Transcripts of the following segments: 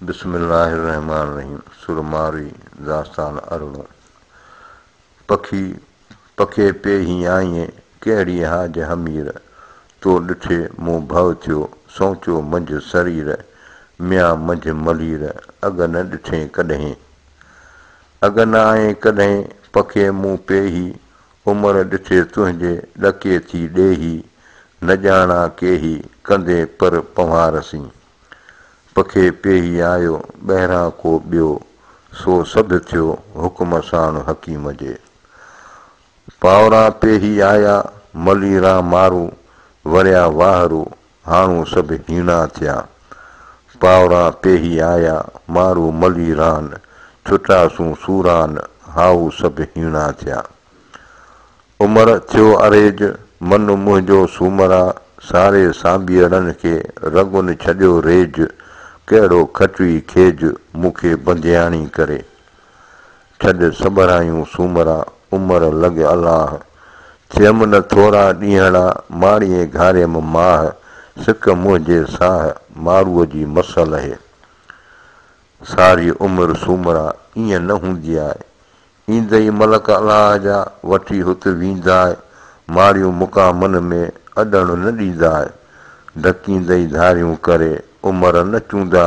بسم الله الرحمان الرحيم سر مارئي داستان ارڙون پکي پکي پي هي آئينء ڪهڙي هاج همير تو ڏٺي مون ڀؤ ٿيو سوچو منجهه سرير ميان منجهه ملير اڳ نه ڏٺين ڪڏهين اڳ نه آئين ڪڏهين پکي مون پي هي عمر ڏٺي تنهنجي ڏڪي ٿي ڏيهي نه ڄاڻا ڪيهي ڪندي پر پنهوار سين پکي پيهي آيو ٻهران ڪو ٻيو سو سڌ ٿيو حڪم ساڻ حڪيم جي پاوران پيهي آيا ملي ران مارو وريا واهرو هاڻو سڀ هيڻا ٿيا. پاوران پيهي آيا مارو ملي ران، ڇٽا سون سوران هائو سڀ هيڻا ٿيا. عمر ٿيو اريج، من منهنجو سومرا، ساري سانڀيئڙن کي رڳون ڇڏيو ريج، ڪهڙو کٽوي کيج، مون کي بندياڻي ڪري. ڇڏ سٻرايون سومرا، عمر لڳ الاهه. ٿيم نه ٿورا ڏينهڙا، ماڙيي گهاريم ماه. سڪ منهنجي ساهه، ماروء جي مس لهي. ساري عمر سومرا، ائين نه هوندي آهي. ايندئي ملڪ الاهه جا، وٺي هت ويندا. ماڙيون مقامن ۾، اڏڻ نه ڏيندا. ڍڪيندئي ڌاريون ڪري، عمر نه چوندا.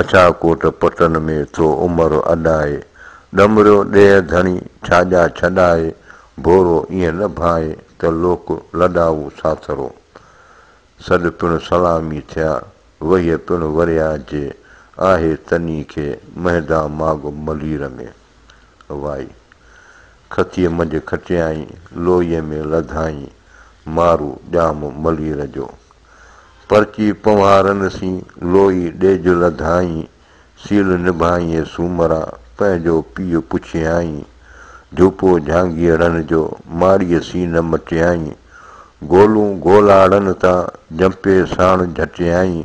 اڇا ڪوٽ پٽن ۾ ٿو عمر اڏائي، ڏمريو ڏيهه ڌڻي ڇاڄا ڇڏائي، ڀورو ائين نه ڀائي ته لوڪ لڏائو ساٿرو. سڏ پڻ سلامي ٿيا، وهيء پڻ وريا جي، آهي تني کي مهندا ماڳ ملير ۾. وائي! کٿيء منجهه کٽيائين، لوئيء ۾ لڌائين، مارو ڄام ملير جو. پرچي پنوهارن سين لوئي ڏيج لڌائين، سيل نڀائين سومرا پنهنجو پيء پڇيائين، جهوپو جهانگيئڙن جو ماڙيء سين نه مٽيائين، گولون گولاڙن تان جنپي ساڻ جهٽيائين،